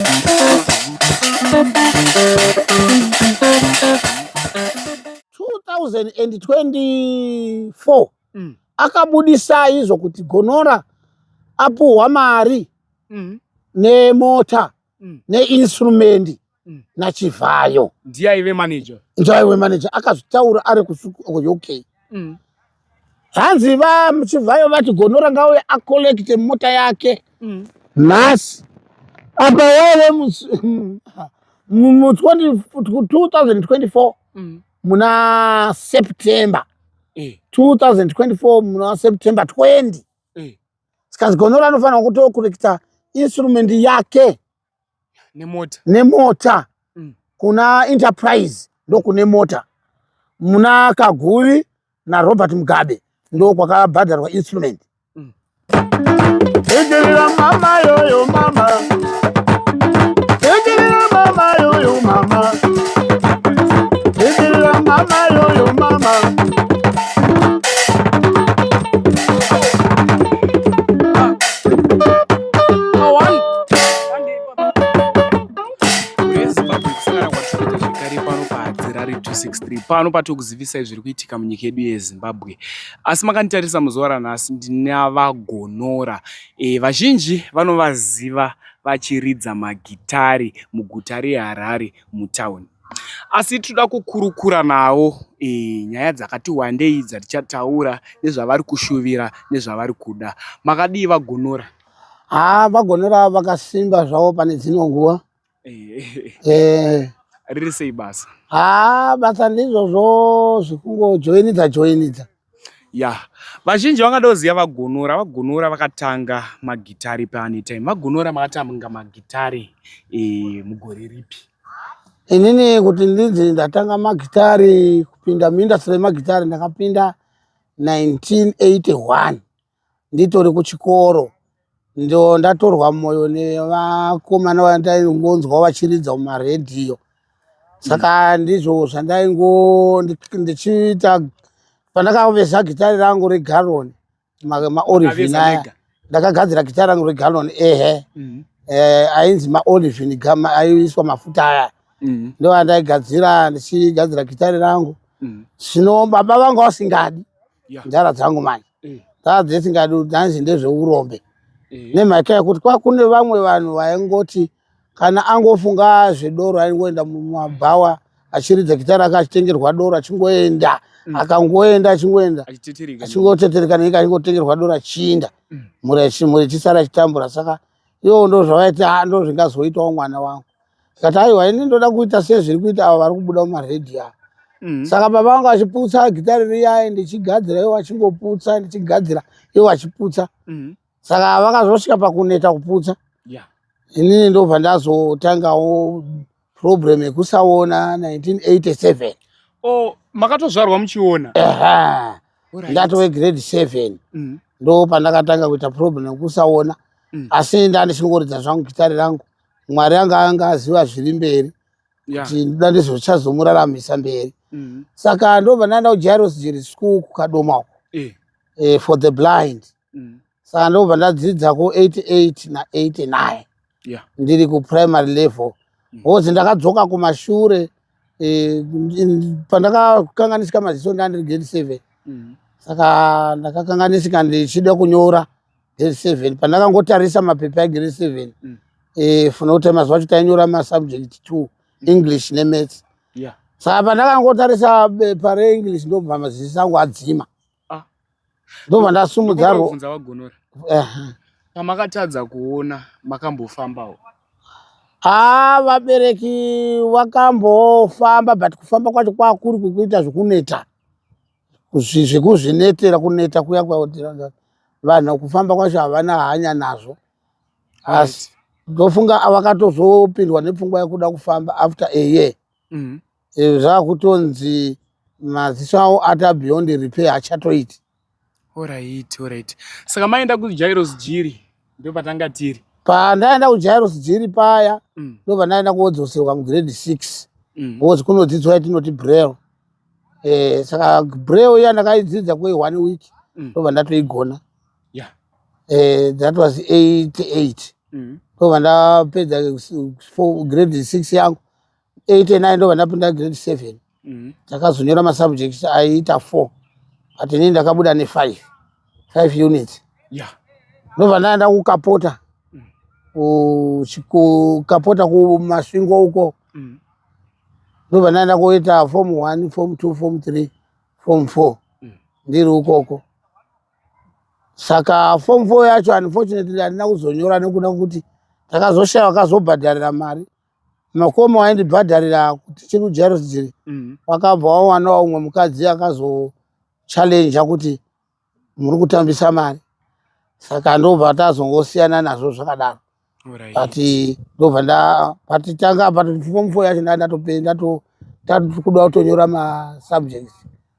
2024 mm. akabudisa izvo kuti gonora apuhwa mari mm. nemota mm. neinstrumendi mm. nachivhayo ndiaive manager ndiaive manager akazvitaura ari kusuku uk mm. hanzi vachibvayo vati gonora ngauye acollecte mota yake mm. nhasi apa wave mu2024 mm. muna september 2024 eh. muna september 20 eh. sikazi gonora anofanira kutocollecta instrument yake nemota, nemota. Mm. kuna enterprise ndokune mota muna kaguvi narobert mugabe ndokwakabhadharwa instrument mm. mama yoyo mama pano patiri kuzivisai zviri kuitika munyika yedu yezimbabwe asi makanditarisa muzuva ranhasi ndinavagonora e, vazhinji vanovaziva vachiridza magitari muguta reharare mutauni asi tinoda kukurukura navo e, nyaya dzakati wandei dzatichataura nezvavari kushuvira nezvavari kuda makadii vagonora haa vagonera vakasimba zvavo pane dzino nguva riri sei basa haa basa ndizvozvo zvekungojoinidza joinidza ya vazhinji vangada kuziva vagonora vagonora vakatanga magitari paanetime vagonora makatanga magitari e, mugore ripi inini kuti ndinzi ndatanga magitari kupinda muindastry yemagitari ndakapinda 1981 nditori kuchikoro ndo ndatorwa mwoyo nevakomana vandaingonzwa vachiridza mumaredhiyo saka ndizvo zvandaingo ndichiita pandakaveza gitari rangu regaroni maorivin aya ndakagadzira gitari rangu regaroni ehe mhm. eh, ainzi maorivin aiiswa mafuta aya mhm. ndo andaigadzira ndichigadzira gitari rangu mhm. zvino baba vanga vasingadi ndara dzangu manje eh. dzaa dzisingadi dhanzi ndezveurombe eh. nemhaka yekuti kwakune vamwe vanhu vaingoti kana angofunga zvedoro aingoenda mumabhawa achiridza gita rake achitengerwa doro achingoenda mm. akangoenda achingoenda achingotetereka nenyika achingotengerwa doro achiinda mm. mhuri yechisara achitambura saka ivo ndozvavaiti a ah, ndo zvingazoitawo mwana wangu zikati aiwa ini ndoda kuita sezviri kuita avo vari kubuda mumaredhi avo mm. saka baba vangu vachiputsa gitari riyaye ndichigadzira ivo vachingoputsa ndichigadzira ivo vachiputsa mm. saka vakazosvika pakuneta kuputsa yeah. inini ndobva ndazotangawo problem yekusaona 1987 oh makatozvarwa muchiona eha right. ndatove grade 7 mm. ndo pandakatanga kuita problem yekusaona mm. asi ndani chinongoridza zvangu gitari rangu mwari anga anga aziva zviri mberi kuti yeah. ndoda ndizvochazomuraramisa mberi mm. saka ndobva ndaenda kujairos jiri school kukadoma uko eh. eh, for the blind mm. saka ndobva ndadzidza ku88 na89 yeah. ndiri kuprimary level mm. hozi ndakadzoka kumashure e, pandakakanganisika maziso ndandiri grade seven mm. saka ndakakanganisika ndichida kunyora grade seven pandakangotarisa mapepa egrade seven mm. e, funa kuti mazuva acho tainyora masubject two mm. english nemaths yeah. saka pandakangotarisa bepa reenglish ndobva maziso angu adzima Ah. Ndobva ndasumudza ro. Ndobvunza vagonora. Eh. Pamakatadza kuona makambofambawo. Ah, vabereki vakambofamba but kufamba kwacho kwakuri kukuita zvekuneta. Zvekuzvinetera kuneta kuya kwakuti vanhu kufamba kwacho havana hanya nazvo. Asi ndofunga avakatozopindwa nepfungwa yekuda kufamba after a year. mm. e, zvakutonzi maziso avo ata beyond repair achatoiti orit orit saka maenda kujairos jiri ndo patanga tiri pandaenda kujairos jiri paya mm. ndo mm. pandaenda kuodzoserwa mugrade six mm. ozi kunodzidzwa yatinoti brail e, saka brail iya ndakaidzidza kwe one week mm. ndo mm. pandatoigona yeah. e, that was eight eight mm. ndo mm. pandapedza grade six yangu eight and nine ndovanapinda grade seven mhm. ndakazonyora mm -hmm. masubjects aiita four but inini ndakabuda nefive five units yeah. ndovandaa ndakukapota mm. kukapota kumasvingo uko mm. ndovandaa ndakuita form one form two form three form four mm. ndiri ukoko saka form four yacho unfortunately handina kuzonyora nekuda kuti ndakazoshaya vakazobhadharira mari Makomo aindibhadharira kuti tiri kuJairos dziri mm. wakabva wawanawo umwe mukadzi akazochallenja kuti muri kutambisa mari saka ndobva tazongosiyana nazvo zvakadaro but ndobva nda but tanga but form four yacho ndatopenda tatokuda kutonyora masubjects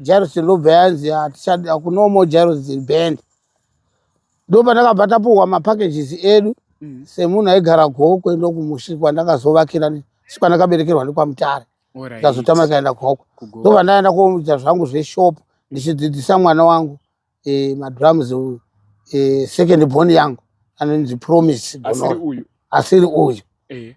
Jairus ndobva yanzi hatichadi akunomo Jairus band ndopatakabva tapuhwa mapackages edu mm. semunhu aigara gokwe ndokumushi kwandakazovakira sikwandakaberekerwa ndikwamutare ndazotama ikaenda gokwe ndobva ndaenda koita zvangu zveshop ndichidzidzisa mwana wangu e, madrums e, second born yangu anonzi promise asiri uyu e.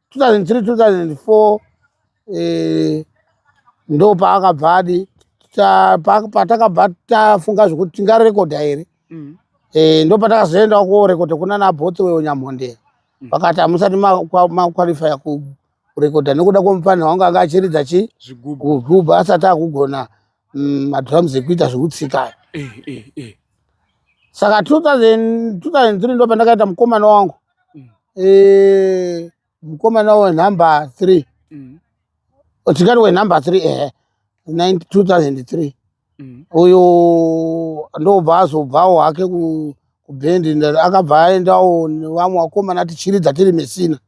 2003 2004 eh, ndo paakabva adi patakabva tafunga zvekuti tingarekodha here mm. eh, ndo patakazoendawo kuorekodha kuna nabhotsi weyo nyamhondera mm. vakati hamusati makwalifaya kurekodha nekuda kwomufanira wangu anga achiridza chi zvigubhu asati akugona mm, madrums ekuita zvekutsika aya eh, eh, eh. saka 2003 ndo pandakaita mukomana wangu mm. eh, mukomana wenumber three mm. tingati wenumber three ehe 2003 mm. uyo ndobva azobvawo hake kubhendi akabva aendawo nevamwe vakomana tichiridza tiri mesina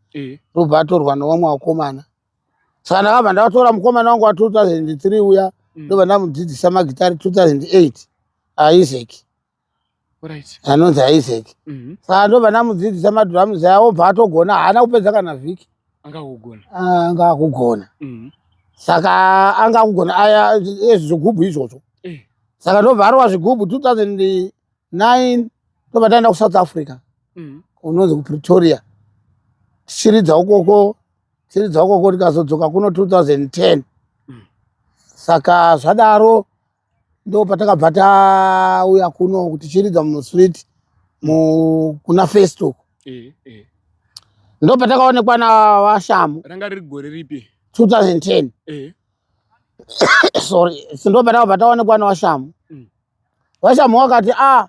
ndobva atorwa nevamwe vakomana saka ndakabva ndatora mukomana wangu wa 2003 uya mm. ndobva ndamudzidzisa magitari 2008 aisaac anonzi aisaac mm-hmm. saka ndobva ndamudzidzisa madrums aya obva atogona haana kupedza kana vhiki anga akugona ah, mm-hmm. saka anga akugona aya ezvi zvigubhu izvozvo eh. saka ndobva arova zvigubhu 2009 ndobva taenda kusouth africa mm-hmm. unonzi kupretoria tichiridza ukoko dziri dzakoko ndikazodzoka kuno 2010 mm. saka zvadaro ndo patakabva tauya kuno kuti chiridza mustreet kuna festook eh, eh. ndo patakaonekwa na vashamu ranga riri gore ripi 2010 eh. sorry ndo patakabva taonekwa na vashamu mm. vashamhu vakati a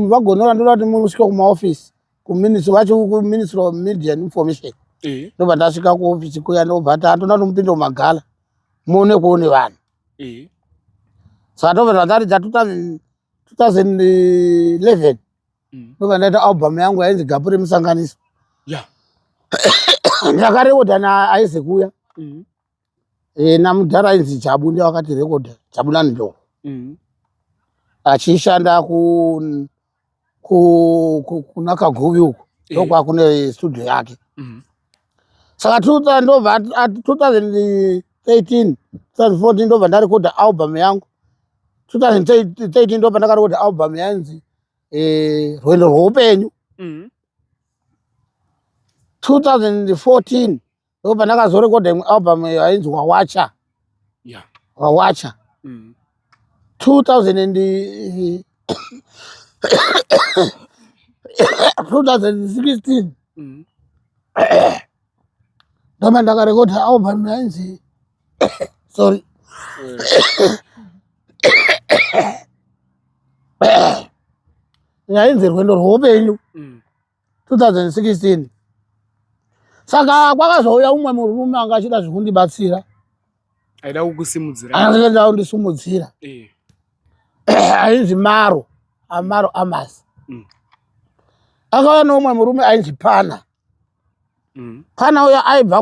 vagonora ndoda kuti musvike kumaofisi kuminist vachi kuministry of media and information eh. ndobva ndasvika kuofisi kuya ndobva tatoda kuti mupinde mumagala muone kuone vanhu eh. saka tobva tataridza 2011 mm. ndobva ndaita album yangu yainzi gapu remusanganiso ndakarekodha naaize kuya mm. Eh, namudhara ainzi jabu ndiye wakati rekodha jabulani ndo Mhm. achishanda ku ku- ku- kuna kaguvi uko Eh. ndokwakune studio yake Mhm. saka 2000 ndobva at- at- 2013 2014 ndobva ndarekodha album yangu 2013 ndobva ndakarekodha album yainzi eh, rwendo rweupenyu Mhm. 2014 iko pandakazorekodha imwe album yainzi wawacha yeah. wawacha mm. 2000 2016 mm. ndoma ndakarekodha album yainzi sorry eh. yainzi rwendo rwoupenyu mm. 2016 saka kwakazouya umwe murume anga achida zvekundibatsira aida kukusimudzira aida kundisimudzira eh. ainzi maro amaro amasi mm. akava neumwe murume ainzi pana mm. pana uya aibva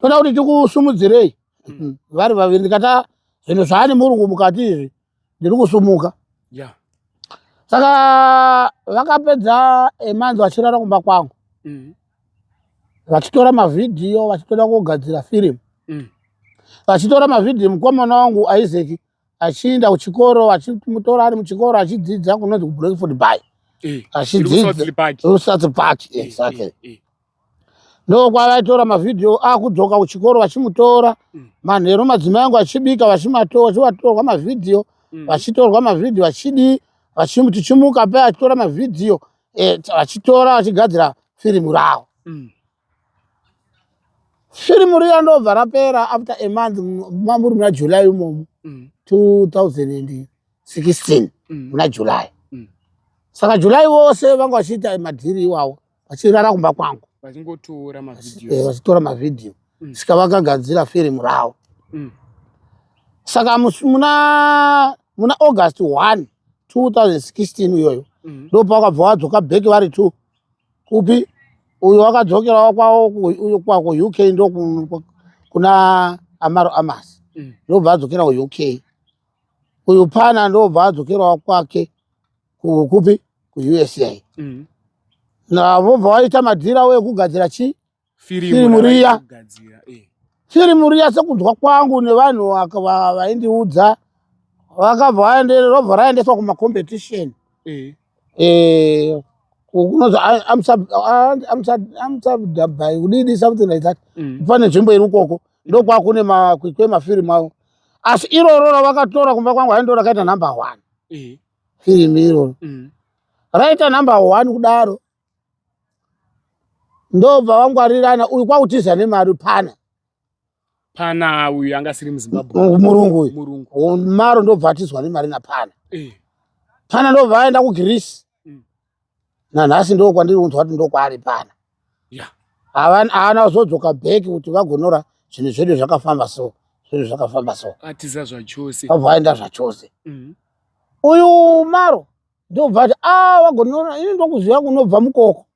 toda kuti tikusumudzirei hmm. vari vaviri ndikata zvinhu zvaani murungu mukati izvi ndiri kusumuka saka vakapedza emanzi vachirara kumba kwangu hmm. vachitora mavhidhiyo vachitoda kugadzira firimu hmm. vachitora mavhidhiyo mukomana wangu isaac achienda kuchikoro achimutora ari muchikoro achidzidza kunonzi kubreakford by eh, achidzidzausazi park eh, exactly eh, eh. ndokwavaitora mavhidhiyo akudzoka kuchikoro vachimutora mm. manheru madzimai angu achibika vachivatorwa mavhidhiyo mm. vachitorwa mavhidhiyo vachidii tichimuka pe achitora mavhidhiyo vachitora vachigadzira firimu ravo mm. firimu riya ndobva rapera after a month mamuri muna july imomo 2016 mm. mm. muna july mm. saka july vose vanga vachiita madhiri iwawo vachirara kumba kwangu vachitora eh, mavhidhiyo saka vakagadzira firimu ravo saka muna august 1 2016 iyoyo ndopakabva wadzoka bheki vari two kupi uyo wakadzokerawo kwavo kwako uk ndo kuna amaro amas mm. ndobva adzokera kuuk uyu pana ndobva adzokerawo kwake kupi kuusa mm. navobva waita madhira wekugadzira chii firimu riya firimu eh. riya sekunzwa kwangu nevanhu vaindiudza vakabva vaenderera robva raendeswa kumacompetition eh. Eh, kunonzi amsabdabai kudidi something like that mm. pane nzvimbo iri ukoko ndokwakune makwikwi emafirimu avo asi iroro ravakatora kumba kwangu haindo rakaita number one firimu iroro mm. raita number one kudaro ndobva vangwarirana uyu kwakutiza nemari pana pana uyu anga asiri muzimbabwe murungu uyu maro ndobva atizwa nemari napana eh. pana ndobva aenda kugreece mm. nanhasi ndo kwandiri kunzwa kuti ndokwaari pana haana kuzodzoka bheki kuti vagonora zvinhu zvedu zvakafamba so zvinhu zvakafamba so atiza zvachose abva aenda zvachose mm-hmm. uyu maro ndobva ati a ah, vagonora ini ndokuziva kunobva mukoko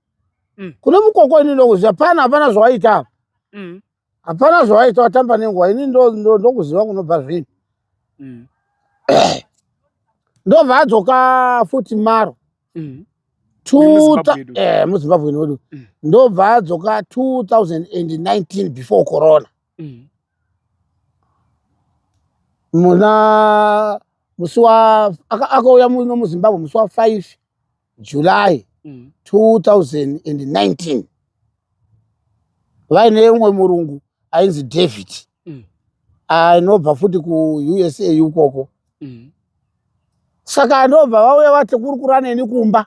mm. kune mukoko ini ndokuziva pana hapana zvawaita apa mm. hapana zvawaita watamba nenguva ini ndokuziva kunobva zvinhu mm. ndobva adzoka futi maro mm. Eh, muzimbabwe nodu mm. ndobva adzoka 2019 before corona mm. muna musi akauya muno muzimbabwe musi wa5 july 2019 mm. vaine umwe murungu ainzi david mm. anobva futi kuusa ukoko mm. saka anobva vauya vati kuri kuraneni kumba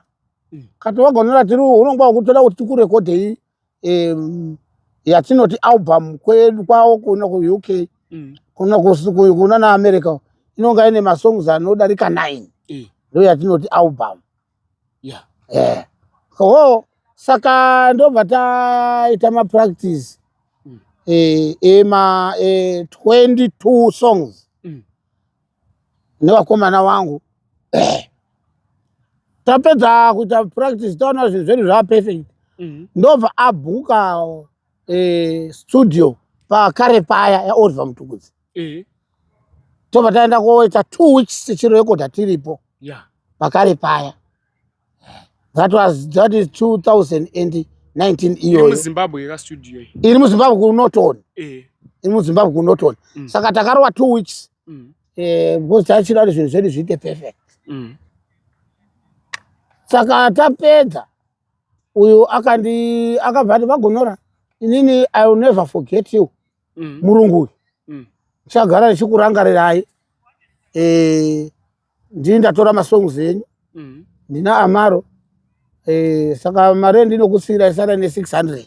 kati vagonera tiri unonga wakutoda kuti tikurekodhei um, yatinoti album kwedu kwavo kuno kuuk mm. kuno kuna naamerica inonga ine masongs anodarika nine mm. ndo yatinoti album yeah. yeah. oh, saka ndobva taita mapractice mm. e, e, ma e, 22 songs nevakomana vangu tapedza kuita practice taona zvinhu zvedu zvava perfect mhm. ndobva abhuka eh, studio pakare paya yaoliver mutukudzi mhm. tobva taenda koita two weeks tichirekodha tiripo pakare paya that was that is 2019 iyoyomuzimbabwe iri muzimbabwe kunoton eh. iri muzimbabwe kunoton mm. saka takarowa two weeks mm. eh, because tachida kuti zvinhu zvedu zviite perfect mm. saka tapedza uyu akandi akabva ati vagonora inini i will never forget you mm. murungu uyu ndichagara mm. ndichikurangarirai eh, ndini ndatora masongs enyu mm. ndina amaro e, saka mari endinokusiira isara ne 600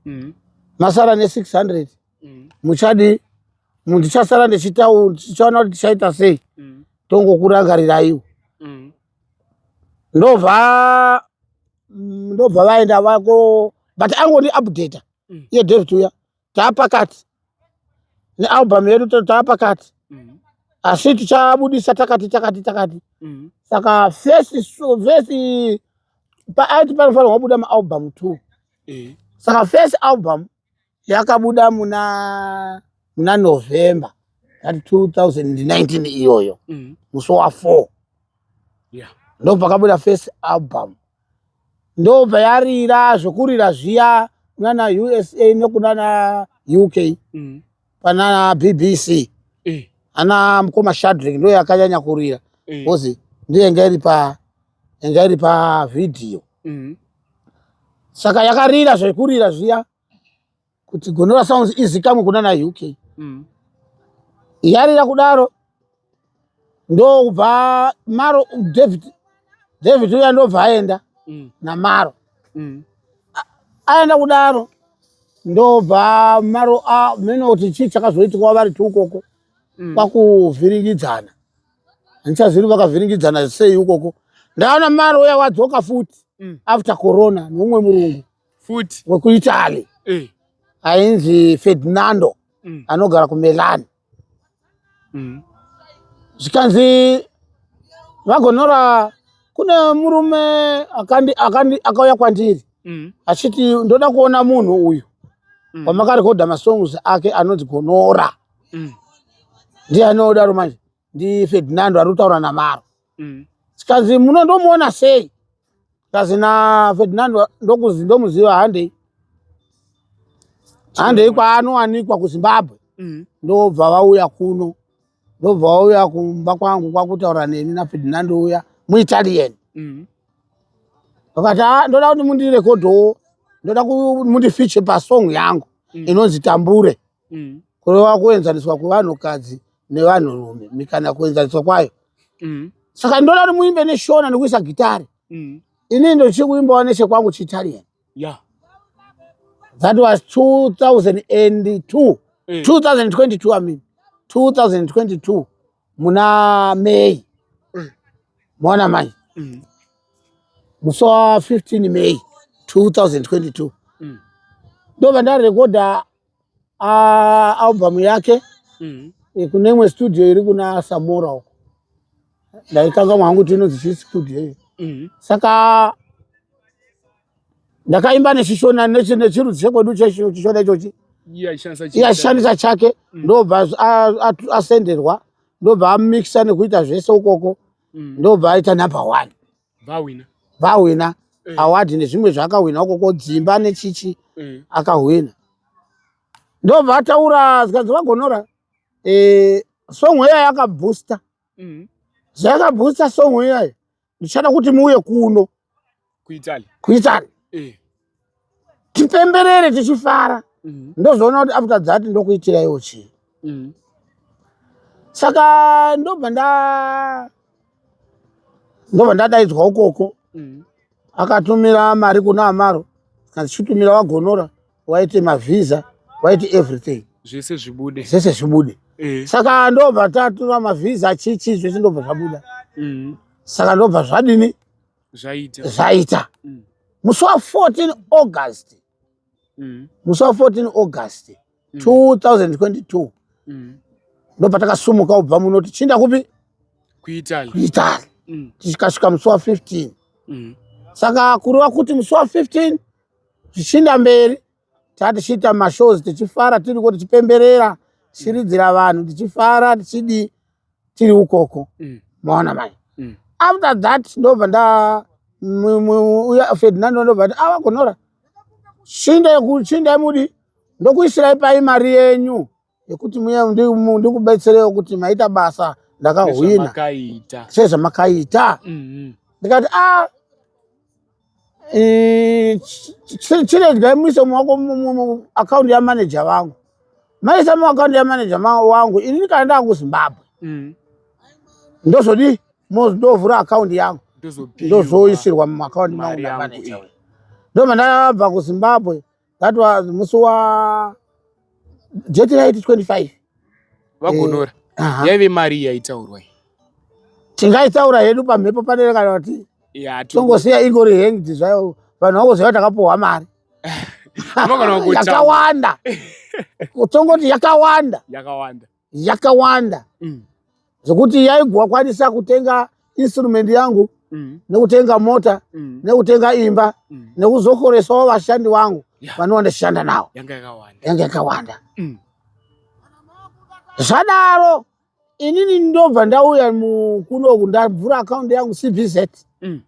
mm. masara ne 600 mm. muchadi ndichasara ndichitaura tichaona kuti tichaita sei mm. tongokurangariraiwo mm. ndobva ndobva vaenda vako but angoni updata mm. iye david uya taapakati nealbum yedu taapakati mm-hmm. asi tichabudisa takati takati takati mm-hmm. saka first first paaiti panofanirwa kubuda maalbum two eh. saka first album yakabuda muna muna november that 2019 iyoyo mm-hmm. musi wa four ndo pakabuda first album ndobva yarira zvokurira zviya kunana usa nekunana uk mm. pana bbc eh. ana mukoma shadrik ndo yakanyanya kurira eh. bcause ndiyo yanga iri pa yanga iri pa vhidhiyo mm. saka yakarira zvekurira zviya kuti Gonora Sounds izikamwe kuna na UK mm. yarira kudaro ndokubva maro David David uya ndobva aenda mm. namaro mm. aenda kudaro ndobva maro a mene kuti chii chakazoitikwa vari tiukoko mm. kwakuvhiringidzana handichazivi vakavhiringidzana sei ukoko ndaona maro uya wadzoka futi mm. after corona nomwe murungu futi wekuitaly eh. ainzi ferdinando mm. anogara kumilan mm. zvikanzi vagonora kune murume akandi, akandi, akauya kwandiri mm. achiti ndoda kuona munhu uyu mm. wamakarekodha masongs ake anonzi gonora mm. ndiye anodaro manje ndifedinando ari kutaura namaro mm. zvikanzi muno ndomuona sei zvikanzi nafedinando ndokuzi ndomuziva handei handei kwaanowanikwa kuzimbabwe mm. ndobva vauya kuno ndobva vauya kumba kwangu kwakutaura neni nafedinando uya muitalian mm. vakati ah, ndoda kuti mundirekodhowo ndoda kuti mundifiche pasong yangu inonzi tambure mm. kurova kuenzaniswa kwevanhukadzi nevanhurume mikana kuenzaniswa kwayo mm. saka ndoda kuti muimbe neshona nekuisa gitari mm. ini ndochiri kuimbawo nechekwangu chiitalian yeah. that was 2002 mm. 2022 i mean 2022 muna may mm. mona mai mm. musi wa 15 may 2022 mm. ndobva ndarekodha uh, album yake mm -hmm. kune imwe studio iri kuna samora uko ndaikanga mwangu kuti inonzi chii studio iyo mm -hmm. saka ndakaimba nechishona nechirudzi chekwedu chishona ichochi yashandisa chake mm. ndobva asenderwa ndobva amixa nekuita zvese ukoko mm. ndobva aita number one vahwina vahwina Eh. award nezvimwe zvaakahwina ukoko dzimba nechichi Eh. akahwina ndobva ataura zvikanzi vagonora eh, song iyayo yakabooster Mhm. zvayakabooster song iyayo ndichada kuti muuye kuno Kuitaly. kuitani Eh. tipemberere tichifara mm. ndozoona kuti after that ndokuitiraiwo chii mm. saka ndobva nda ndobva ndadaidzwa ukoko mm. akatumira mari kuna amaro achitumira wagonora waite mavhiza waite everything zvese zvibude zvese zvibude eh. saka ndobva tatura mavhiza chichi zvese ndobva zvabuda mm. saka ndobva zvadini zvaita zvaita mm. musi wa 14 august mm. musi wa 14 august mm. 2022 mm. ndo patakasumuka kubva muno tichinda kupi kuitali kuitali mm. tichikasvika musi wa 15 mm. saka kureva kuti musi wa 15 zvichinda mberi taa tichiita mashows tichifara tiriko tichipemberera tichiridzira mm. vanhu tichifara tichidii tiri ukoko mm. maona mai mm. after that ndobva nda uya ferdinando ndobva ti avagonora ah, chinda chinda mudi ndokuisirai pai mari yenyu yekuti muya ndikubetserewo kuti maita basa ndakahwina sezvamakaita mm-hmm. ndikati a ah, chiregai muise muwako akaunti yamaneja vangu maisa muakaunti yamaneja wangu ini ndikana ndava kuzimbabwe mm. ndozodii ndovhura akaunti yangu ndozoisirwa muakaunti mangu namaneja ndo mandabva kuzimbabwe that was musi wa jeti raiti 25 vagonora eh, uh -huh. yaive mari yaitaurwa tingaitaura hedu pamhepo panere kana kuti tongosiya ingori hanged zvayo vanhu vangoziva takapuhwa mari yakawanda tongoti yakawanda yakawanda yakawanda mm. zvekuti yaigwa kwanisa kutenga instrument yangu mm. nekutenga mota mm. nekutenga imba mm. nekuzokoresawo vashandi vangu yeah. vanova ndichishanda nawo yanga yakawanda mm. zvadaro inini ndobva ndauya mukunoku ndavhura akaundi yangu cbz mm.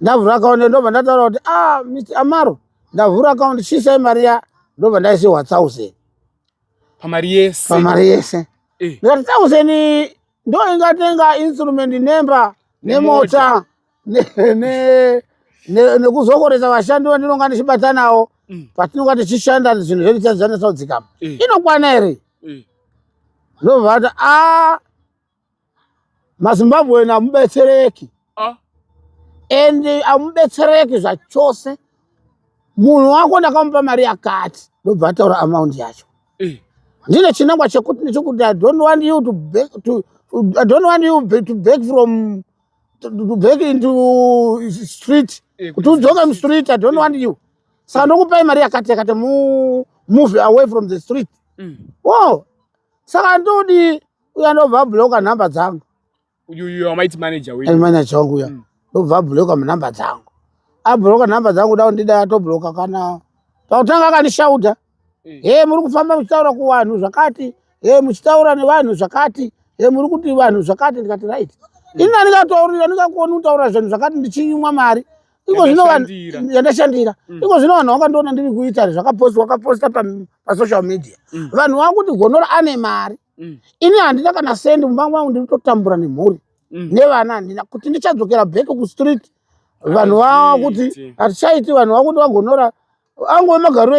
ndavhura akaundi ndobva ndataura kuti ah, amaro ndavhura akaundi chisai mari ya ndobva ndaisiwa thousand pamari yese pamari yese eh. ndikati thousand ndo ingatenga instrument nemba nemota nekuzokoresa vashandi vandinonga ndichibata nawo mm. patinonga tichishanda zvinhu zvedu chazvandisaudzikama eh. inokwana here eh. ndobvata a ah, mazimbabwe namubetsereki ah. and amubetsereki zvachose munhu wako ndakamupa mari yakati ndobva ataura amount yacho eh. ndine chinangwa chekuti nechekuti i don't want you to back to i don't want you to back from to back into street eh, kuti udzoke mustreet i don't want you saka ndokupai mari yakati yakati move away from the street mm. wo saka ndodi uya ndobva abhuloka nhamba dzangu manaja wangu uya hmm. ndobva abhuloka nhamba dzangu abhuloka nhamba dzangu da ndida atobhuloka kana pakutanga akandishauta eh. he muri kufamba muchitaura kuvanhu zvakati he muchitaura nevanhu zvakati he muri kuti vanhu zvakati ndikati right hmm. ini andikataurira ndingakuoni kutaura zvinhu zvakati ndichinyimwa mari iko zvino vanhu yandashandira mm. iko zvino vanhu vakandiona ndiri kuita zvakaposta wakaposta pasocial media mm. vanhu vakuti gonora ane mari mm. ini handina kana sendi mumba mangu ndiri kutotambura nemhuri mm. nevana handina kuti ndichadzokera back kustreet vanhu vava kuti hatichaiti vanhu vava kuti vagonora angove magariro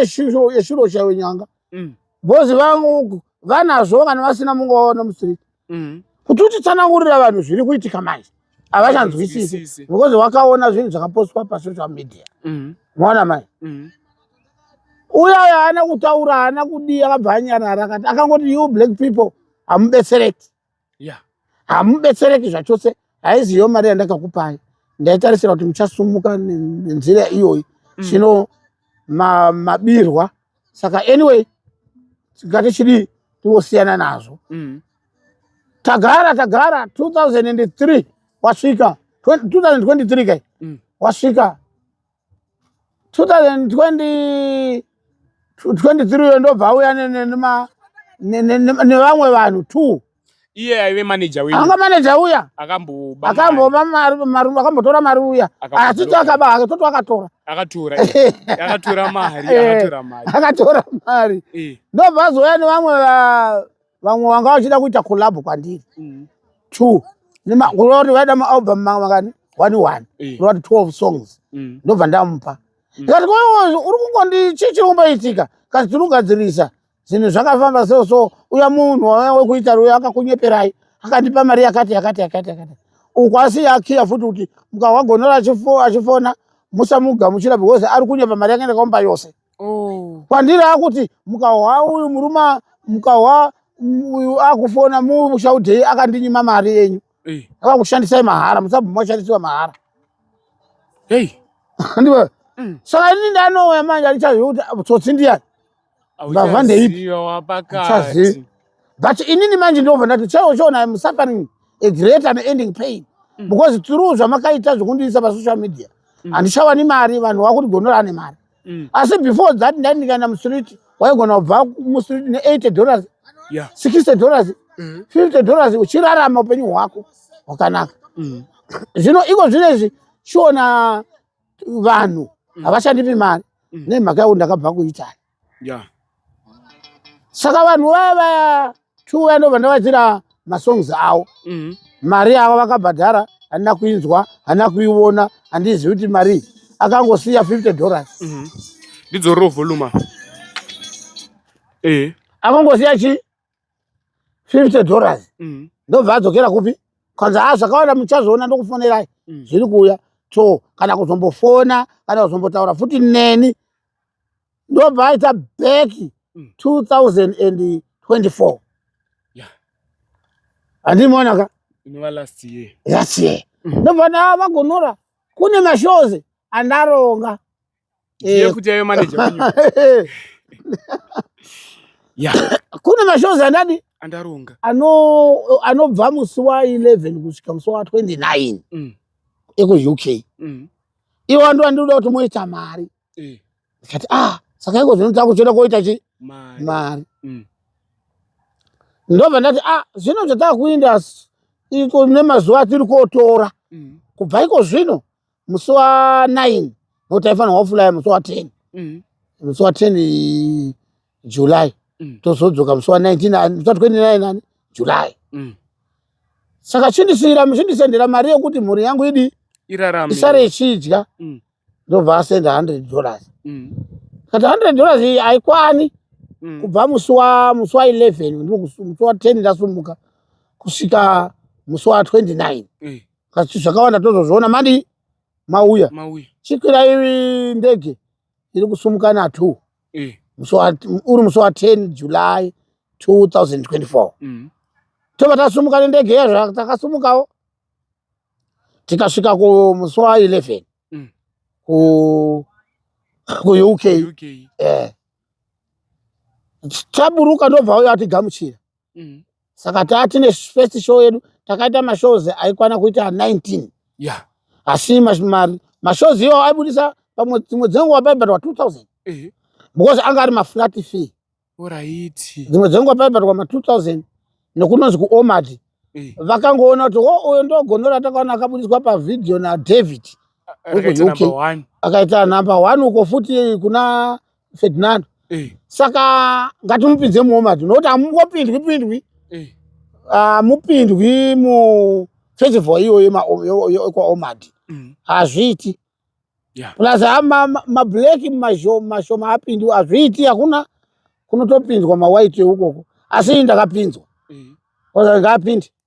eshuro chaiwe nyanga mm. bhozi vangu vanazvo kana vasina mungu vaona mustreet mm. kuti utitsanangurira vanhu zviri kuitika manje havachanzwisisi because wakaona zvinhu zvakapostwa pasocial media mm. mwaona mai uya uya haana kutaura haana kudii akabva anyarara akati akangoti you black people hamubetsereki yeah. hamubetsereki zvachose haiziyo mari yandakakupai ndaitarisira kuti muchasumuka nenzira iyoyi mm. zvino mm. ma, mabirwa saka anyway tingati chidii tiwosiyana nazvo mm. tagara tagara 2003 wasvika 2023 kai mm. wasvika 2023 uyo ndobva auya nevamwe vanhu two iye aive manager wenyu anga manager uya akamboba akamboba mari mari akambotora mari uya asi akaba hake toto akatora akatora akatora mari akatora mari akatora mari ndobva azoya nevamwe vamwe vanga vachida kuita collab kwandiri mm. two nemakore kuti vaida maalbum makani one one eh. roti twelve songs mm. ndobva ndamupa mm. ndikati koyozi uri kungondi chii chiri kumboitika kasi tinogadzirisa zvinhu zvakafamba so so uya munhu wekuita uyo akakunyeperai akandipa mari yakati yakati yakati yakati uku asi yakiya futi kuti mukawagonora achifona musamugamuchira because ari kunyepa mari yake ndakamupa yose oh. kwandiri akuti mukahwa uyu muruma mukahwa uyu akufona mushaudhei akandinyima mari yenyu eh. akakushandisai mahara musabvuma kushandisiwa mahara hey. ndiwe mm. saka ini ndanouya manje andichazivi kuti tsotsi ndiyani ndava ndeipi chazivi but inini manje ndobva ndati chaiwo chiona im suffering a great and ending pain mm. because through zvamakaita zvekundiisa pasocial media mm. handishawani mari vanhu vakuti gondora ane mari mm. asi before that ndai ndikaenda mustreet waigona kubva mustreet ne80 dollars yeah. 60 dollars mm. 50 dollars uchirarama upenyu hwako hwakanaka mm. zvino iko zvino izvi chiona vanhu mm. havashandipi mari mm. nemhaka yekuti ndakabva kuitali yeah. saka vanhu vaya vaya two vaya ndobva ndavaitira masongs avo mhm. mari yavo vakabhadhara handina kuinzwa handina kuiona handizivi kuti marii akangosiya 50 dollars mhm. ndidzorero voluma eh. akangosiya chi 50 dollars mhm. ndobva adzokera kupi kanzi ha ah, zvakawanda muchazoona ndokufonerai mhm. zviri kuuya so kana kuzombofona kana kuzombotaura futi neni ndobva aita back 2024 handimuona ka last year mm. ndobva ndaa vagonora kune mashows andaronga eh. kune mashows andadi andaronga anobva musi wa 11 kusvika musi wa 29 mm. ekuuk mm. iwe wandi wandinoda kuti moita mari eh. ndikati a ah, saka iko zvino takutoda koita chi mari mm. ndobva ndati a ah, zvino zvatakuinda iko nemazuva atiri kotora mm. kubva iko zvino musi wa nine nokuti aifanirwa kufulaya musi wa ten mm. musi wa ten july mm. tozodzoka musi wa 1929 ani july mm. saka chindisiyira chindisendera mari yekuti mhuri yangu idi isare ichidya mm. ndobva asenda 100 dollars mm. kati 100 dollars iyi haikwani mm. kubva musi wa musi wa 11 musi wa 10 ndasumuka kusvika musi wa 29 mm. kati zvakawanda tozozviona madi mauya, mauya. chikwirai ndege iri kusumuka na two eh. uri musi wa 10 july 2024 mm. tobva tasumuka nendege yezvo takasumukawo tikasvika kumusi wa 11 mm. ku kuuk eh. taburuka ndobva uyo atigamuchira mm. saka taa tine first show yedu takaita mashows aikwana kuita 19 yeah. asi mashows iwo aibudisa pamwe dzimwe dzenguva paibatwa 2000 eh. because anga ari maflat fee oraiti dzimwe dzenguva paibatwa ma 2000 nekunonzi kuomad eh. vakangoona kuti wo oh, uyo ndogonora takaona akabudiswa pavhidhiyo nadavid wekuuk akaita number one uko futi kuna ferdinando eh. saka ngatimupinze muomadi nokuti hamungopindwi pindwi eh. hamupindwi ah, mu festival iyoyo yekwaomadi mm. hazviiti mm. yeah. plus mablack mashoma apindwi hazviiti hakuna kunotopinzwa mawhite ukoko asi ndakapinzwa mm. ndakapindi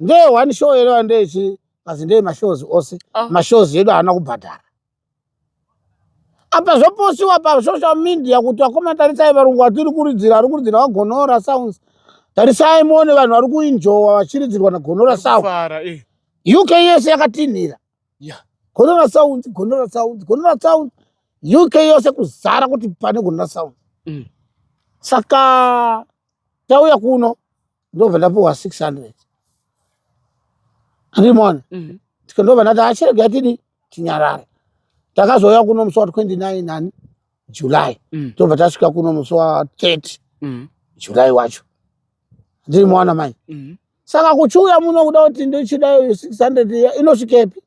ndeye one show here vandechi kazi ndeye mashows ose oh. mashows edu haana kubhadhara apa zvoposiwa pasocial media kuti vakoma tarisai varungu vatiri kuridzira vari kuridzira vagonora sounds tarisai muone vanhu vari kuinjowa vachiridzirwa nagonora sound eh. uk yese yakatinhira gonora sounds gonora sounds gonora sounds uk yose kuzara kuti pane gonora sounds mm. saka tauya kuno ndobva ndapiwa 600 andimona mhm. ndobva ndati achirega ah, tidi tinyarare takazouya kuno musi wa 29 nani july mm. tobva tasvika kuno musi wa 30 mm. july wacho ndiri mwana mai mm. saka kuchiuya muno kuda kuti ndochida 600 inosvikepi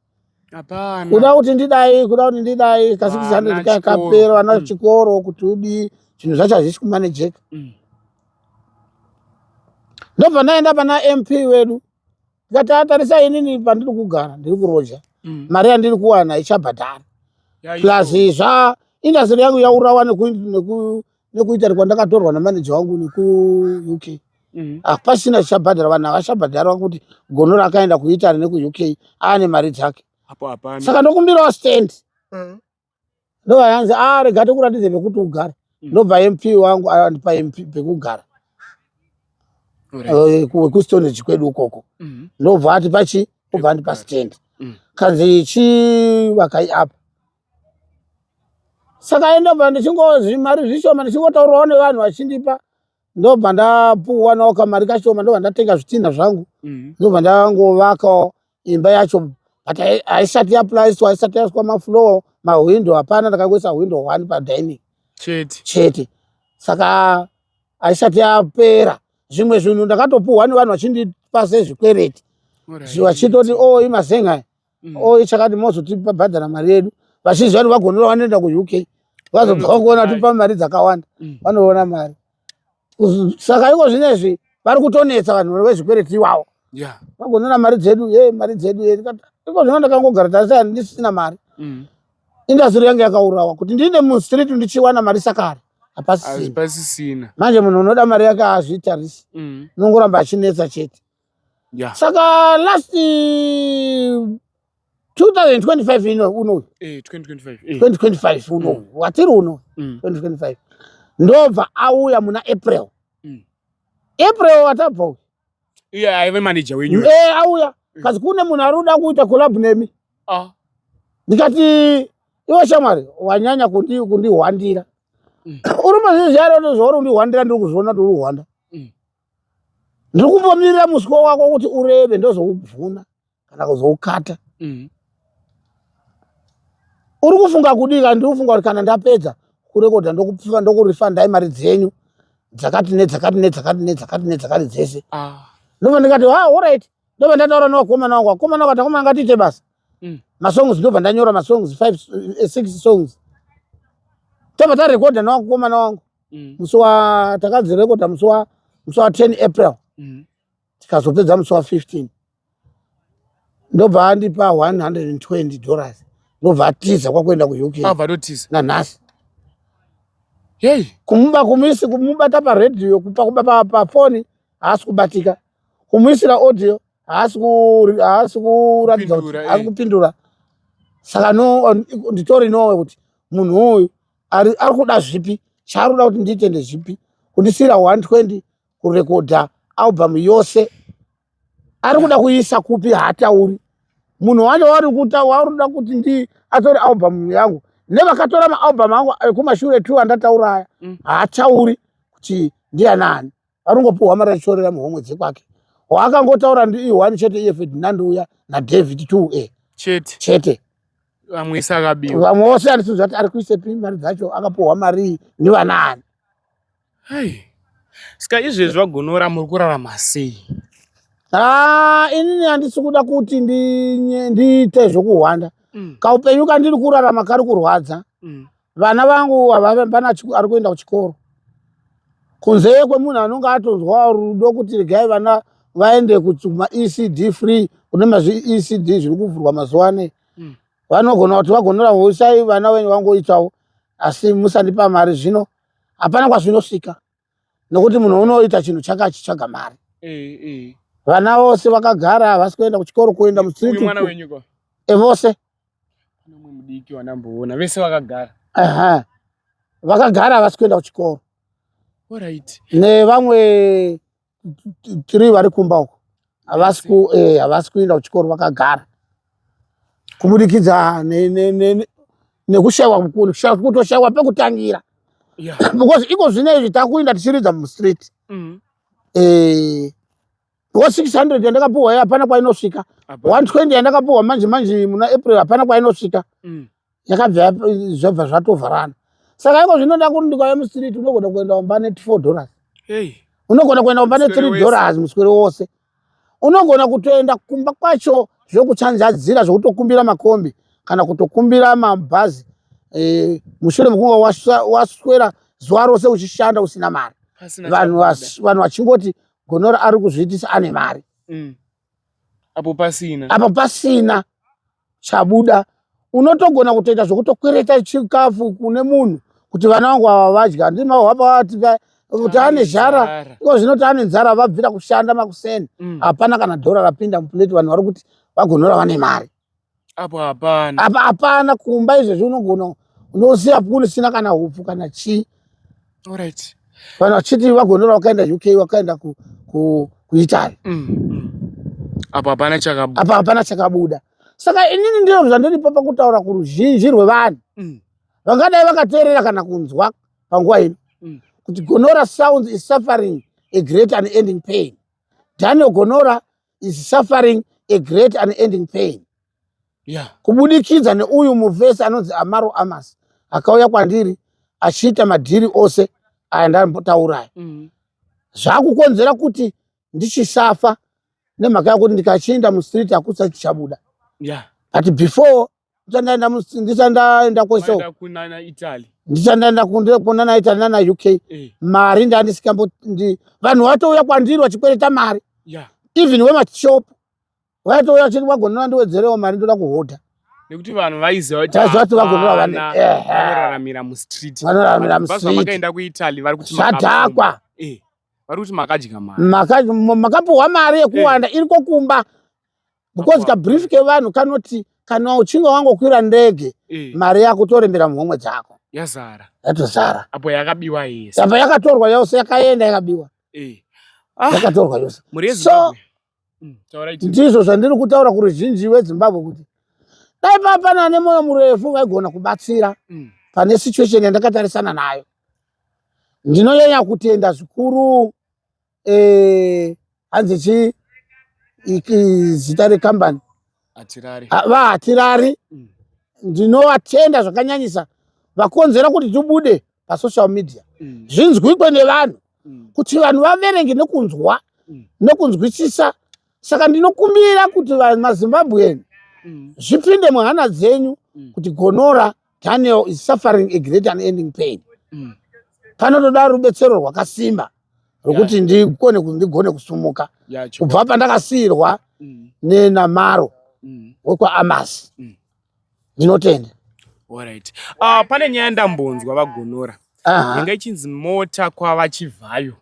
hapana kuda kuti ndidai kuda kuti ndidai kasi kusandei kakapera vana mm. chikoro kuti udii zvinhu zvacho hazvisi kumanejeka mm. ndobva ndaenda pana mp wedu ndikati atarisa inini pandiri kugara ndiri kuroja mm. mari yandiri kuwana ichabhadhara plus zva indastry yangu yaurawa neku nekuItaly kwandakatorwa namanager wangu nekuUK mhm. hapasina ah, chabhadhara vanhu havachabhadharwa kuti gono rakaenda kuItaly nekuUK aane mari dzake saka ndokumbirawo stand mm. ndobva yanzi a ah, rega tikuratidze pekuti ugare mm. ndobva mp wangu andipa ah, mp pekugara eh, wekustonage kwedu ukoko mhm. ndobva ati pachi obva andipa stand mm. kanzi chii vakai apa saka ndobva ndichingozi mari zvishoma ndichingotaurawo nevanhu vachindipa ndobva ndapuwanawo kamari kashoma ndobva ndatenga zvitinha zvangu mhm. ndobva ndangovakawo imba yacho but haisati yaplaiswa haisati yaiswa mafloor mahwindo hapana ndakangoisa hwindo one padining chete chete saka haisati yapera zvimwe zvinhu ndakatopuhwa nevanhu vachindipa sezvikwereti vachitoti o oh, imazenga mm. oye chakati mozotibhadhara mari yedu vazhinji vano vagonora vanoenda kuuk vazobva vakuona tipa mari dzakawanda mm. vanoona mari saka iko zvino izvi vari kutonetsa vanhu vezvikwereti iwawo vagonora mari dzedu e mari dzedu e iko zvino ndakangogara tasa ndisina mari mm. indasiri yange yakaurawa kuti ndiine mustreet ndichiwana mari sakare hapasisina manje munhu unoda mari yake azvitarisi mm. unongoramba achinetsa chete yeah. saka last 2025 ino unoyu 2025 unoyu watiri uno 2025 ndobva auya muna april mm. april watabva uyu iye aive manager wenyu e eh, auya mm. kasi kune munhu ari kuda kuita collab nemi ah. ndikati iwe shamwari wanyanya kundihwandira mm. uri mazizvi ari ndozvauri kundihwandira ndiri kuzviona kuti uri kuhwanda ndiri kumbomirira muswe wako kuti urebe ndozoubvuna kana kuzoukata mm. uri kufunga kudii kana ndiri kufunga kuti kana ndapedza kurekodha ndokupfiva ndokurifandai mari dzenyu dzakati nedzakati nedzakati nedzakati nedzakati dzese ah. ndobva ndikati ha ah, orit ndobva ndataura nevakomana wangu vakomana wangu atakomana ngatiite basa mm. masongs ndobva ndanyora masongs five eh, six songs tobva tarekodha newakukomana wangu mm. musi wa takadzirekoda musi wa musi wa 10 april mm. tikazopedza musi wa 15 ndobva andipa 120 dollars ndobva atiza kwakuenda kuuk nanhasi yei kumuba kumisi kumubata paradio kupa kuba pafoni haasi kubatika kumuisira audio haasi kuratidza kuti haasi kupindura saka no nditori nowe kuti munhu uyu ari ari kuda zvipi chaari kuda kuti ndiite ndezvipi kundisiira 120 kurekodha album yose ari kuda kuiisa kupi haatauri munhu wacho wari kuta wauri kuda kuti ndi atore album yangu nevakatora maalbum angu ekumashure two andatauraya mm. haatauri kuti ndianani anongopiwa mari achitorera muhomwe dzekwake waakangotaura ndi one chete iye ferdinand uya nadavid two a chete chete vamwe isakabiwa vamwe vose andisinzi vati ari kuisepi mari dzacho akapiwa marii nevanaani hai ska izvezvi vagonora muri kurarama sei haa inini handisi kuda kuti ndiite zvokuhwanda mm. kaupenyu kandiri kurarama kari kurwadza mm. vana vangu havavambana ari kuenda kuchikoro kunzeye kwemunhu anonge atonzwa rudo kuti regai vana vaende kumaecd free kune mazviecd zviri kuvhurwa mazuva anei hmm. vanogona kuti vagonora hosai vana venyu vangoitawo asi musandipa mari zvino hapana kwazvinosvika nokuti munhu unoita chinhu chake achitsvaga mari eh, eh. vana vose vakagara havasi kuenda kuchikoro kuenda mustreet evose eh, vakagara havasi kuenda kuchikoro nevamwe tiri vari kumba uko havasi eh, havasi kuenda kuchikoro vakagara kubudikidza nekushaiwa kukuru kutoshaiwa pekutangira because iko zvine izvi takuinda tichiridza mustreet mm. eh, wa 600 yandakapuhwa hapana kwainosvika 120 yandakapuhwa manje manje muna april hapana kwainosvika mm. yakabva zvabva zvatovharana saka iko zvinoda kuti ndikauya mustreet unogona kuenda kumba ne four dollars unogona kuenda kumba ne three dollars muswere wose unogona kutoenda kumba kwacho zvekuchanjadzira zvekutokumbira makombi kana kutokumbira mabhazi e, mushure mekunga waswera zuva rose uchishanda usina mari vanhu vachingoti gonora ari kuzviitisa ane mari mm. apo pasina apo pasina chabuda unotogona kutoita zvekutokwereta chikafu kune munhu kuti vana vangu ava vadya handii mahwapa vati kuti ane zhara iko zvino kuti ane nzara vabvira kushanda makuseni mm. hapana kana dhora rapinda mupuleti vanhu vari kuti vagonora vane mari apo hapana hapana kumba izvezvi unogona unosiya punu sina kana hupfu kana chii Alright. Vanhu vachiti vagonora wakaenda UK wakaenda ku ku kuItaly. Mm. mm. Apa hapana chakabuda. Apa hapana chakabuda. Saka inini ndiro zvandiri papa kutaura kuruzhinji rwevanhu. Mm. Vangadai vakateerera kana kunzwa panguva ino. Mm. Kuti gonora sounds is suffering a great and ending pain. Daniel Gonora is suffering a great unending pain yeah. kubudikidza neuyu muvhesi anonzi amaro amas akauya kwandiri achiita madhiri ose aya ndambotauraya mm -hmm. zvakukonzera kuti ndichisafa nemhaka yakuti ndikachienda mustreet hakusa chichabuda yeah. but before ndichandaenda ndichandaenda kweso kunana italy ndichandaenda kunana italy nana uk eh. mari ndandisingambo vanhu vatouya kwandiri vachikwereta mari yeah. even wemashop vaitouya vachiti vagonora ndiwedzerewo mari ndoda kuhodha nekuti vanhu vaiziva kuti vati vagonora vanoraramira mustreet vanoraramira mustreet vakaenda kuitaly vari kuti zvadhakwa eh. vari kuti makadya mari makapuhwa mari yekuwanda yeah. iriko kumba because kabrief kevanhu kanoti kana uchinge wangokwira ndege eh. mari yako torembera muhomwe dzako yazara yatozara apo yakabiwa yese apa yakatorwa yose yakaenda yakabiwa eh. ah. yakatorwa yose so mm, ndizvo zvandiri kutaura kuruzhinji wezimbabwe kuti dai papana ane mwoyo murefu vaigona kubatsira mm. pane situation yandakatarisana nayo ndinonyanya kutenda zvikuru eh, hanzi chii zita rekambani vahatirari ah, mm. ndinovatenda zvakanyanyisa vakonzera kuti tibude pasocial media mm. zvinzwikwe nevanhu mm. kuti vanhu vaverenge nekunzwa nekunzwisisa saka ndinokumbira kuti mazimbabwean zvipinde muhana dzenyu kuti gonora Daniel is suffering a great and ending pain. Mm. Panotoda rubetsero rwakasimba rwekuti yeah. ndigone ndigone kusumuka yeah, kubva pandakasiyirwa mm. nenamaro mm. wekwaAmas. Mm. Ndinotenda. Mm. Alright. Uh, pane nyaya ndambonzwa vagonora. Aha. Inga ichinzi mota kwava chivhayo.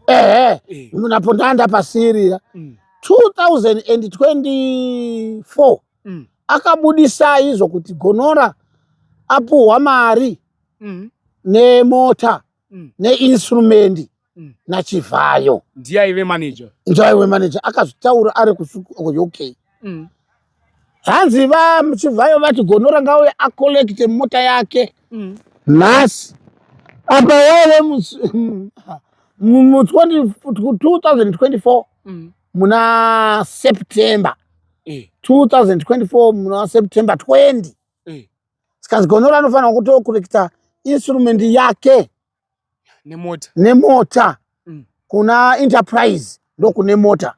Ehe. Eh. Munapo ndanda pasirira. Mm. 2024 mm. akabudisai izvo kuti gonora apuhwa mari mm. nemota mm. neinstrumendi mm. nachivhayo ndiye aive manager ndiye aive manager akazvitaura ari kuuk mm. hanzi vachivhayo vati gonora ngauye acollecte mota yake mm. nhasi mm apa wave mu 2024 mm. muna september eh. 2024 muna september 20 eh. sikanzi gonora anofanira kutokurekita instrument yake nemota nemota mm. kuna enterprise ndokune mota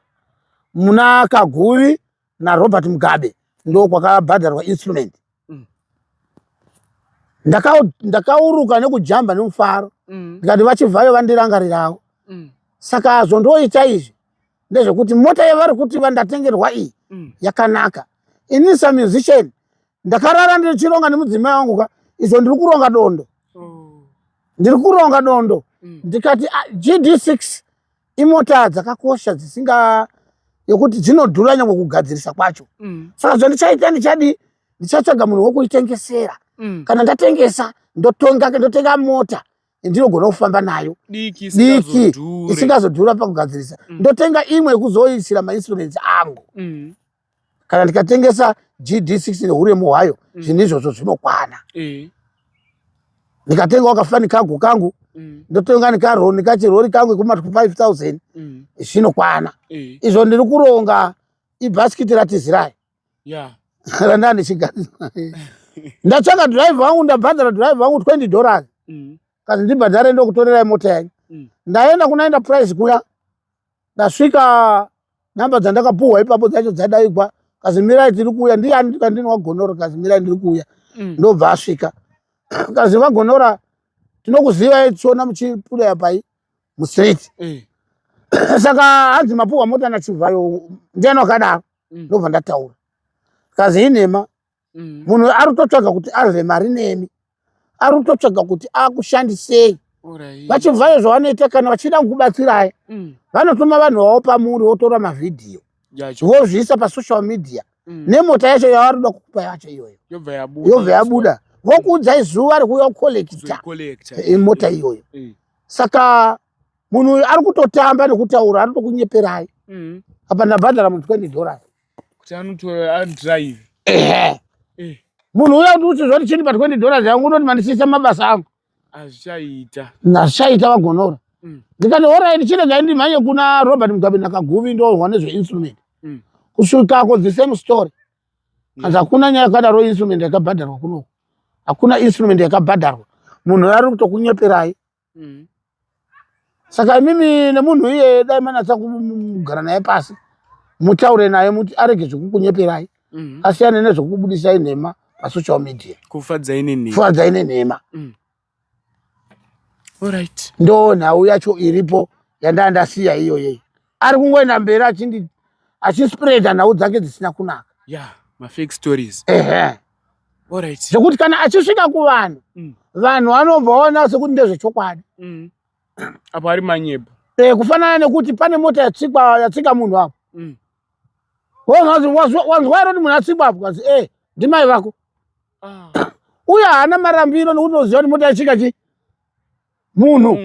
muna kaguvi naRobert Mugabe ndo kwakabhadharwa instrument mm. ndakauruka ndaka nekujamba nemufaro mm. ndikati vachivhayo vandirangarirawo mm. saka zvondoita izvi ndezvekuti mota yavari kuti vandatengerwa iyi mm. yakanaka ini samusician ndakarara ndichironga nemudzimai wangu ka izvo ndiri kuronga dondo oh. ndiri kuronga dondo mm. ndikati ah, gd six imota dzakakosha dzisinga yokuti dzinodhura nyangwe kugadzirisa kwacho mm. saka zvandichaita ndichadii ndichatsvaga munhu wokuitengesera mm. kana ndatengesa ndotonga ndotenga mota ndinogona kufamba nayo diki isingazodhura pakugadzirisa mm. ndotenga imwe yekuzoisira mainstruments angu mm. kana ndikatengesa gd 6 neuremu hwayo mm. zvinhu izvozvo zvinokwana eh. ndikatenga wakafani kago kangu mm. ndotenga nikaroni kachirori kangu kuma 5000 mm. zvinokwana eh. izvo ndiri kuronga ibhasikiti ratizirayi randava ndichigariswa ndatsvaka drive wangu ndabhadhara drive wangu 20 dollars kazi ndibhadhare ndokutorerai mota yanyu ndaenda kunaenda price kuya ndasvika namba dzandakapuhwa ipapo dzacho dzadaigwa kazimirai tiri kuuya ndiyani ndikandini wagonora kazimirai ndiri kuuya mm. ndobva asvika kazi vagonora tinokuzivai tichiona muchipuleya pai mustreet mm. saka hanzi mapuhwa mota nachivhayo ndiani wakadaro mm. ndobva ndataura kazi inhema mm. munhu ari kutotsvaga kuti arve mari nemi ari kutotsvaga kuti akushandisei vachibvayo zvavanoita kana vachida kukubatsirai mm. vanotuma vanhu vavo pamuri votora mavhidhiyo vozviisa pasocial media mm. nemota yacho yavari kuda kukupa yacho iyoyo yobva yabuda vokuudzai zuva rekuuya kukolekita eh, mota iyoyo eh. saka munhu uyu ari kutotamba nekutaura ari kutokunyeperai mm. apa ndabhadhara mu 20 dollars kuti anotora adrive eh. munhu uya kuti uti zvoti chini pa 20 dollars yangu unoti mandisiisa mabasa angu azvichaita nazvichaita vagonora mm. ndikati orit chiregai ndimhanye kuna robert mugabe nakaguvi ndohwa nezveinstrument mm. kusvikako the same story kanzi hakuna nyaya yakadaro instrument yakabhadharwa kunoko hakuna instrument yakabhadharwa munhu ari kutokunyeperai mm. saka imimi nemunhu iye dai manatsa kugara naye pasi mutaure naye muti arege zvekukunyeperai mm. asiyane nezvekubudisai nhema pasocial media kufadzai nenhema mm. right. ndo nhau yacho iripo yandaa ndasiya iyoyei ari kungoenda mberi achindi achispreada nhau dzake dzisina kunaka yeah, mafake stories ehe zvekuti kana achisvika kuvanhu mm. vanhu vanomboona sekuti ndezvechokwadi mm. apo ari manyepo e, eh, kufanana nekuti pane mota yatsikwa yatsika munhu apo mm. wanzwa iroti munhu atsikwa apo kazi e eh, ndimai vako ah. uye haana marambiro nekuti unoziva kuti mota yachika chii munhu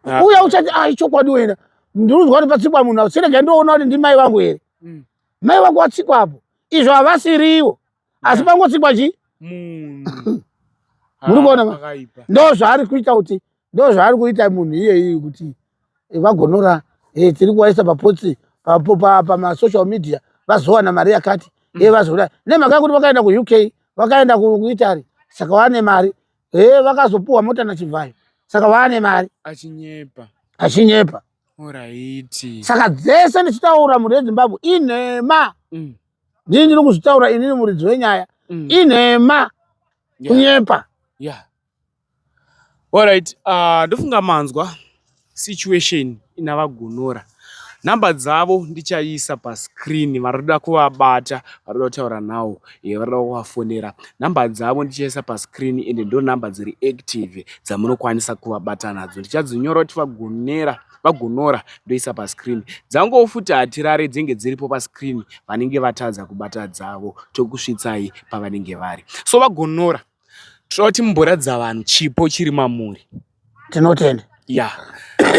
ah. uya uchati ah, ichokwadi wena ndinonzwa kuti patsikwa munhu sirega ndoona kuti ndimai vangu here mm. mai vangu vatsikwa apo izvo havasiriwo asi pangotsikwa chii muri kuona ah, ndo zvaari kuita kuti ndo zvaari kuita munhu iyeyi kuti eh, vagonora eh, tiri kuvaisa papotsi pamasocial media vazowana mari yakati mm. e eh, vazoda nemhaka yekuti vakaenda kuuk vakaenda kuitaly saka wane mari Hey, eh, vakazopuwa mota nachivhayo saka vaane mari achinyepa achinyepa oraiti saka dzese ndichitaura mhuri yezimbabwe inhema mm. ndini ndiri kuzvitaura inini muridzi wenyaya mm. inhema kunyepa yeah. yeah. orit uh, ah, ndofunga manzwa situation ina vagonora number dzavo ndichaisa pascreen varikuda kuvabata varikuda kutaura nhau eh, varikuda kuvafonera number dzavo ndichaisa pascreen ende ndo number dziri active dzamunokwanisa kuvabata nadzo ndichadzinyora kuti vagonera vagonora ndoisa pascreen dzangowo futi hatirare dzenge dziripo pascreen vanenge vatadza kubata dzavo tokusvitsai pavanenge vari so vagonora Tinoda kuti mumboratidza vanhu chipo chiri mamuri. Tinotenda. Ya.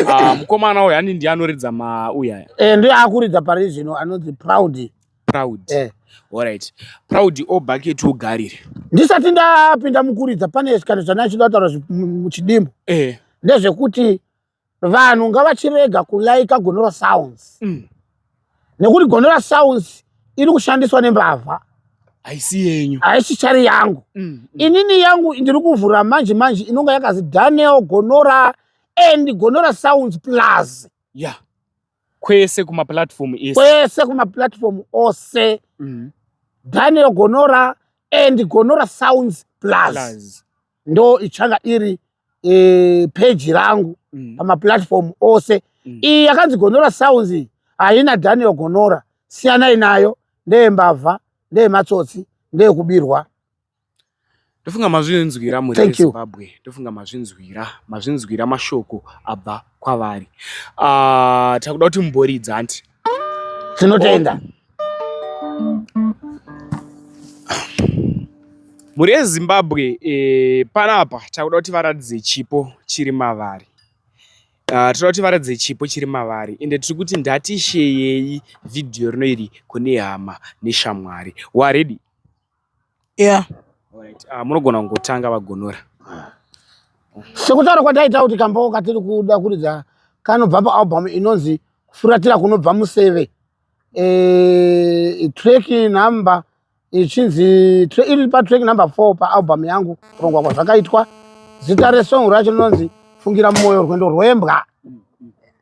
Ah, mukomana uyu ani ndiye anoridza mauyu aya. Eh, ndiye akuridza pari zvino anonzi Proud. Proud. Eh. Alright. Proud o bucket ugarire. Ndisati ndapinda mukuridza pane kana zvana chida kutaura muchidimbu. Eh. Ndezvekuti vanhu ngavachirega kulaika gonora sounds mm. nekuti gonora sounds iri kushandiswa nembavha haisi yenyu haisi chari yangu mm, mm. inini yangu ndiri kuvhura manje manje inonga yakazi daniel gonora and gonora sounds plus ya yeah. kwese kumaplatform ese kwese kumaplatform ose mm. daniel gonora and gonora sounds plus, plus. ndo ichanga iri e, peji rangu mm. pamaplatform ose mm. iyi yakanzi gonora sounds iyi haina daniel gonora siyanai nayo ndeyembavha ndeyematsotsi ndeyekubirwa ndofunga mazvinzwira muzimbabwe ndofunga mazvinzwira mazvinzwira mashoko abva kwavari uh, takuda kuti muboridza anti Tinotenda. Mhuri yeZimbabwe eh, panapa takuda kuti varatidze chipo chiri mavari. Uh, tinoda kuti varatidze chipo chiri mavari ende tiri kuti ndatisheyei vhidhiyo rino iri kune hama neshamwari. Waredi? yeah Alright, ah, munogona kungotanga vagonora sekutaura kwataita kuti kambawo katiri kuda kuridza kanobva paalbum inonzi kufuratira kunobva museve e, track number ichinzi tra- iri patrack number four paalbum yangu kurongwa kwazvakaitwa zita resong racho rinonzi fungira mwoyo rwendo rwembwa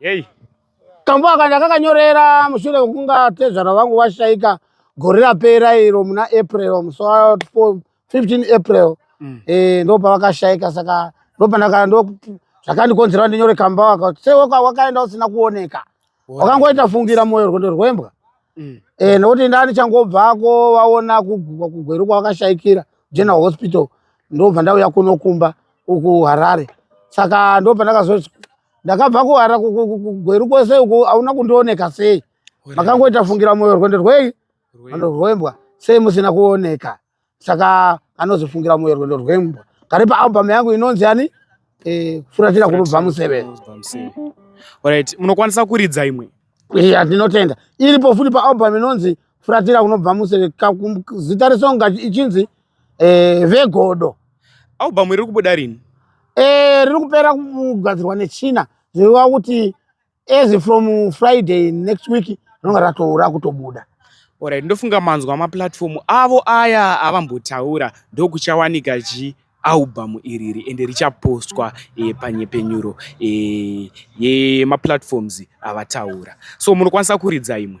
Hey. Kambo aka ndakakanyorera mushure kunga tezvara vangu vashaika gore rapera iro muna April musi wa 15 April mm. eh ndo pavakashaika saka ndo pandaka ndo zvakandikonzera ndinyore kambo aka sewe wakaenda usina kuoneka wakangoita fungira moyo rwendo rwembwa mm. eh, nokuti ndani changobvako vaona kugugwa kugweru kwavakashaikira general hospital ndobva ndauya kunokumba uku harare saka ndobva ndakazoti ndakabva kuhara kugweru kwese uku hauna kundioneka sei makangoita fungira moyo rwendo rwei rwendo rwembwa sei musina kuoneka saka anozofungira moyo rwendo rwembwa kari paalbum yangu inonzi yani eh, furatira kunobva museve right munokwanisa kuridza imwe iya tinotenda iripo futi paalbum inonzi furatira kunobva museve zita resonga ichinzi eh, vegodo album iri kubuda rini eh, riri kupera kugadzirwa nechina zvireva kuti as from friday next week rinonga ratoura kutobuda orit ndofunga manzwa maplatfomu avo aya avambotaura ndokuchawanika chi albhamu iriri ende richapostwa e, panyepenyuro e, yemaplatfoms avataura so munokwanisa kuridza imwe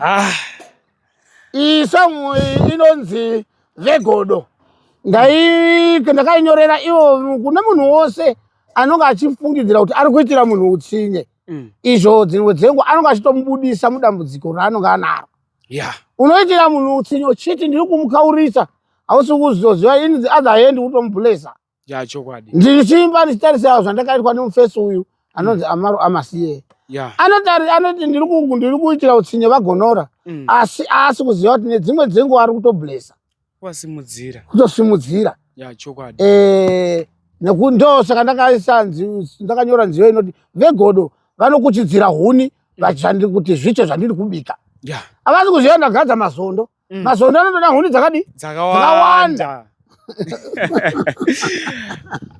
Ah. Iyi song iyi inonzi vegodo ndakainyorera ivo kune munhu wose anonge achifungidzira kuti ari kuitira munhu utsinye mm. izvo dzimwe dzenguva anonge achitomubudisa mudambudziko raanonge anaro unoitira munhu utsinye uchiti ndiri kumukaurisa hausi kuzoziva ini adhaendi kutomubulesa ya chokwadi ndichimba ndichitarisawo zvandakaitwa nemufesi uyu anonzi mm. amaro amasiye yeah. anoti anoti ndiri kungu ndiri kuitira utsinye vagonora mm. asi aasi kuziva kuti nedzimwe dzenguva ari kutoblesa kuasimudzira kutosimudzira ya chokwadi eh nekuti ndo saka ndakaisa ndakanyora nziyo inoti vegodo vanokuchidzira huni mm. vachandi kuti zvicho zvandiri kubika yeah. avasi kuziva ndagadza mazondo Mm. Mazondo anotoda huni dzakadi? Dzakawanda.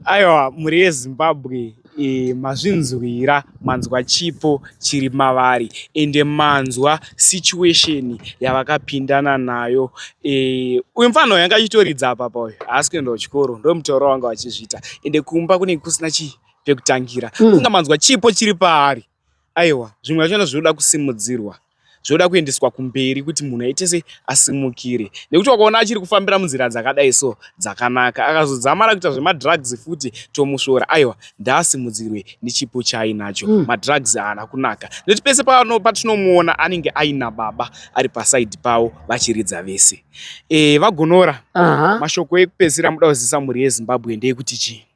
Aiwa mhuri yeZimbabwe e, mazvinzwira manzwa chipo chiri mavari ende manzwa situation yavakapindana nayo e, uyu mfana uyu anga achitoridza apa pauyu haasi kuenda kuchikoro ndomutauro wanga vachizviita ende kumba kunenge kusina chii pekutangira mm. kunga manzwa chipo chiri paari aiwa zvimwe zvachona zvinoda kusimudzirwa zvoda kuendeswa kumberi kuti munhu aitese asimukire nekuti wakaona achiri kufambira munzira dzakadai so dzakanaka akazodzamara kuita zvemadrugs futi tomusvora aiwa ndaasimudzirwe nechipo chaainacho mm. madrugs haana kunaka nekuti pese pano patinomuona anenge aina baba ari pasaidi pavo vachiridza vese e, vagonora uh -huh. mashoko ekupedzisira muda kuzivisa mhuri yezimbabwe ndeyekuti chii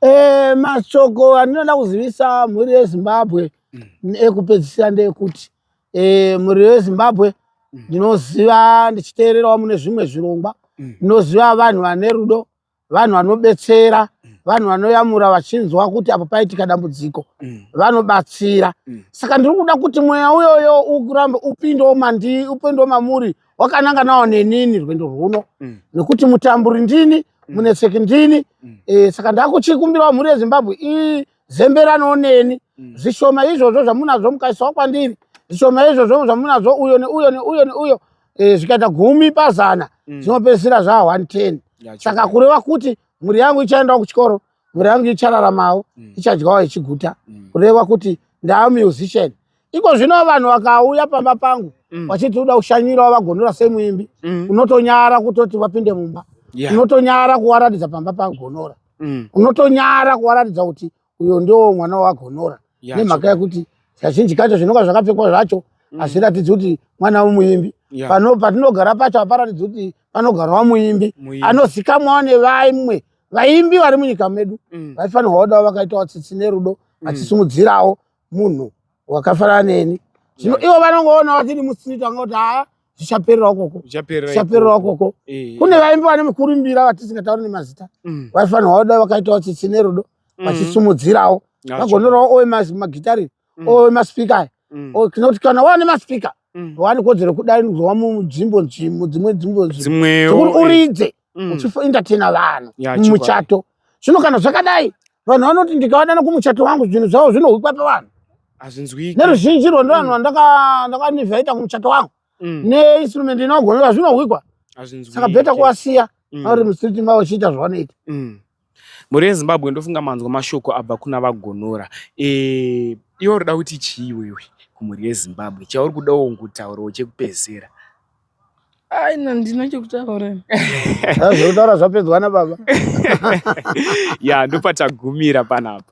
Eh, mashoko andinoda kuzivisa mhuri yezimbabwe mm. ekupedzisira ndeyekuti eh, mhuri yezimbabwe mm. ndinoziva ndichiteererawo mune zvimwe zvirongwa mm. ndinoziva mm. vanhu vane rudo vanhu vanobetsera mm. vanhu vanoyamura vachinzwa kuti apo paitika dambudziko mm. vanobatsira mm. saka ndiri kuda kuti mweya uyoyo urambe upindewo mandi upindewo mamuri wakananga nawo nenini rwendo rwuno mm. nekuti mutamburi ndini mm. munetseki ndini mm. e, saka ndakuchikumbirawo mhuri yezimbabwe izemberanawo neni mm. zvishoma izvozvo zvamunazvo mukaisawo kwandiri zvishoma izvozvo zvamunazvo uyo neuyo neuyo neuyo e, zvikaita gumi pazana mm. zvinopedzisira mm. zvaa 110 saka kureva kuti mhuri yangu ichaendawo kuchikoro mhuri yangu ichararamawo mm. ichadyawo ichiguta mm. kureva kuti ndaamusician iko zvino vanhu vakauya pamba pangu mm. vachiti uda kushanyirawo vagonora semuimbi mm. unotonyara kutoti vapinde mumba yeah. unotonyara kuwaratidza pamba pagonora mm. unotonyara kuwaratidza kuti uyo ndiwo mwana wagonora yeah, nemhaka yekuti kazhinji kacho zvinonga zvakapfekwa zvacho mm. hazviratidzi mm. kuti mwana wemuimbi yeah. pano patinogara pacho haparatidzi kuti panogarawa muimbi anozikamwawo nevaimwe vaimbi vari munyika medu mm. vaifanirwa mm. kudawo vakaitawo tsitsi nerudo mm. vachisimudzirawo mm munhu wakafanana neni zvino ivo vanongoona vatiri mustreet vangoti haa zvichapererawo koko zvichapererawo koko eh, eh. kune vaimbi vane mukurumbira vatisingatauri nemazita mm. vaifanirwa kuda vakaitawo tsitsi nerudo mm. vachisumudzirawo vagonorawo owe magitari mm. owe maspika aya tinoti kana wane maspika wane kodzero kudaidzwa munzvimbo dzimwe dzimwe dzimwe dzimwe uri uridze mm. uchientertaina vanhu yeah, mumuchato zvino kana zvakadai vanhu vanoti ndikavanana kumuchato wangu zvinhu zvavo zvinohwikwa pavanhu hazvinzwiki neruzhinji rwo ndivanhu mm. vandakanivhaita kumuchato wangu mm. neinstrument inogonera zvinohwikwa saka beta kuwasiya mm. auri mustreet mavo chiita zvavanoita mm. Mhuri yeZimbabwe ndofunga manzwa mashoko abva kuna vagonora. Eh, iwe unoda kuti chii wewe kumhuri yeZimbabwe chauri kudawo kutaurawo chekupedzisira? Ai, na- ndina chekutaura Zvekutaura zvapedzwa nababa. ya ndopatagumira panapa.